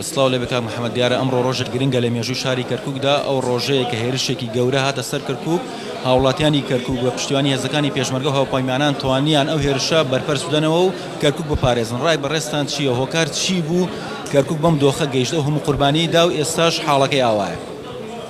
سڵاو لەبێ کاک محەمەد دیارە ئەمڕۆ ڕۆژێک گرنگە لە مێژووی شاری کەرکوکدا ئەو ڕۆژەیە کە هێرشێکی گەورە هاتە سەر کەرکوک هاوڵاتیانی کەرکوک بە پشتیوانی هێزەکانی پێشمەرگە و هاوپەیمانان توانیان ئەو هێرشە بەرپەرچ بدەنەوە و کەرکوک بپارێزن ڕای بەڕێزتان چییە هۆکار چی بوو کەرکوک بەم دۆخە گەیشت ئەو هەموو قوربانیی دا و ئێستاش حاڵەکەی ئاوایە.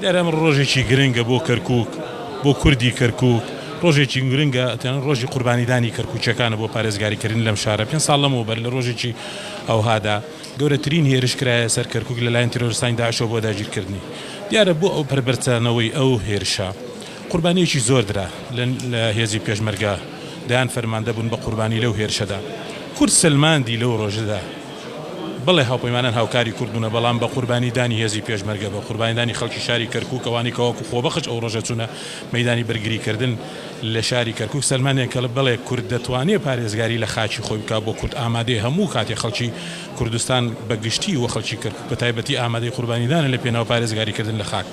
دیارە ئەمڕۆ ڕۆژێکی گرنگە بۆ کەرکوک بۆ کوردی کەرکوک ڕۆژێکی گرنگە تەنانەت ڕۆژی قوربانیدانی کەرکوکییەکانە بۆ پارێزگاریکردن لەم شارە پێنج ساڵ لەمەوبەر لە ڕۆژێکی ئەوهادا گەورەترین هێرش کرایە سەر کەرکوک لەلایەن تیرۆرستانی داعشەوە بۆ داگیرکردنی. دیارە بۆ ئەو پەربەرچانەوەی ئەو هێرشە قوربانییەکی زۆر درا لە هێزی پێشمەرگە دەیان فەرماندە بوون بە قوربانی لەو هێرشەدا. کورد سەلماندی لەو ڕۆژەدا بەڵێ هاوپەیمانان هاوکاری کورد بوونە بەڵام بە قوربانی دانی هێزی پێشمەرگە بە قوربانی دانی خەڵکی شاری کەرکوک ئەوانەی کە وەکو خۆبەخش ئەو ڕۆژە چوونە مەیدانی بەرگری کردن لە شاری کەرکوک سەلماندیان کە بەڵێ کورد دەتوانێت پارێزگاری لە خاکی خۆی بکات، بۆ کورد ئامادەیە هەموو کاتێک خەڵکی کوردستان بە گشتی و خەڵکی کەرکوک بە تایبەتی ئامادەی قوربانیدانە لە پێناو پارێزگاریکردن لە خاک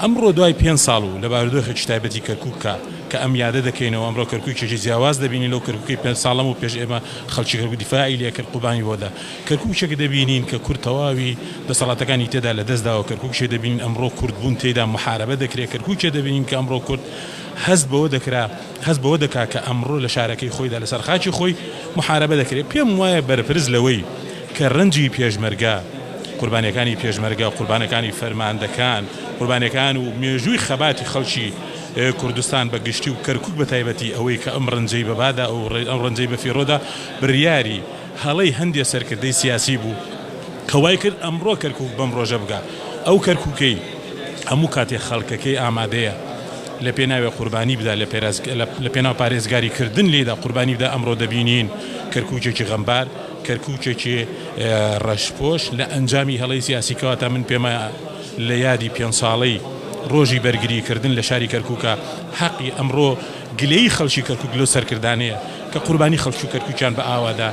ئەمڕۆ دوای پێنج ساڵ و لە بارودۆخێکی تایبەتی کەرکوکە کە ئەم یادە دەکەینەوە ئەمڕۆ کەرکوکێکی جیاواز دەبینین لەو کەرکوکەی پێنج ساڵ لەمەو پێش ئێمە خەڵکی کەرکوک دیفاعی لێکرد قوربانی بۆ دا کەرکوکێک دەبینین کە کورد تەواوی دەسەڵاتەکانی تێدا لە دەست داوە کەرکوکێک دەبینین ئەمڕۆ کورد بوون تێیدا محارەبە دەکرێت کەرکوکێک دەبینین کە ئەمڕۆ کورد هەست بەوە دەکرا هەست بەوە دەکا کە ئەمڕۆ لە شارەکەی خۆیدا لە سەر خاکی خۆی موحارەبە دەکرێ پێم وایە بەرپرس لەوەی کە رەنجی پێشمەرگە قوربانیەکانی پێشمەرگە قوربانەکانی فەرماندەکان قوربانیەکان و مێژووی خەباتی خەڵکی کوردستان بە گشتی و کەرکوک بە تایبەتی ئەوەی کە ئەم رەنجەی بە بادا و ئەم رەنجەی بە فیڕۆدا بریاری هەڵەی هەندێ سەرکردەی سیاسی بوو کە وای کرد ئەمڕۆ کەرکوک بەم ڕۆژە بگا، ئەو کەرکوکەی هەموو کاتێ خەڵکەکەی ئامادەیە لە پێناوێ قوربانی بدا لە پێناو پارێزگاری کردن لێیدا قوربانی بدا ئەمڕۆ دەبینین کەرکوکێکی غەمبار کەرکوکێکی ڕەشپۆش لە ئەنجامی هەڵەی سیاسی کەواتە من پێمە لە یادی پێنج ساڵەی ڕۆژی بەرگری کردن لە شاری کەرکوکە حەقی ئەمڕۆ گلەیی خەڵکی کەرکوک لەو سەرکردانەیە کە قوربانی خەڵکی کەرکوکیان بە ئاوادا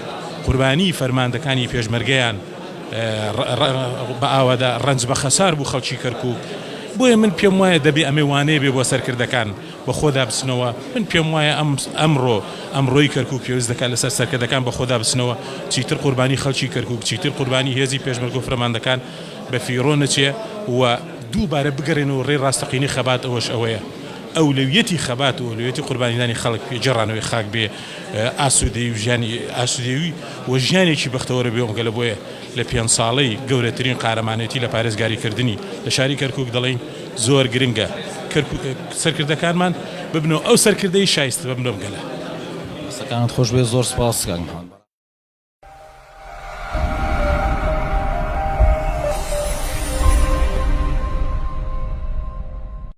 قوربانی فەرماندەکانی پێشمەرگەیان بە ئاوادا ڕەنج بە خەسار بوو خەڵکی کەرکوک بۆیە من پێم وایە دەبێ ئەمێ وانەیە بێ بۆ سەرکردەکان بە خۆدا بچنەوە من پێم وایە ئەم ئەمڕۆ ئەمڕۆی کەرکوک پێویست دەکات لەسەر سەرکردەکان بە خۆدا بچنەوە چیتر قوربانی خەڵکی کەرکوک چیتر قوربانی هێزی پێشمەرگە و فرەماندەکان بە فیڕۆ نەچێ و دووبارە بگەرێنەوە ڕێی ڕاستەقینەی خەبات ئەوەش ئەوەیە ئەولەویەتی خەبات و ئەولەویەتی قوربانیدانی خەڵک پێ گێڕانەوەی خاک بێ ئاسوودەیی و ژیانی ئاسوودەیی و ژیانێکی بەختەوەرە بێ ئۆنگەلە بۆیە لە پێنج ساڵەی گەورەترین قارەمانێتی لە پارێزگاری کردنی لە شاری کەرکووک دەڵێین زۆر گرنگە کەرکووک سەرکردەکانمان ببنەوە ئەو سەرکردەی شایستە بە ملۆم گەلە. دەستەکانت خۆش بێت زۆر سوپاس کاک محمد.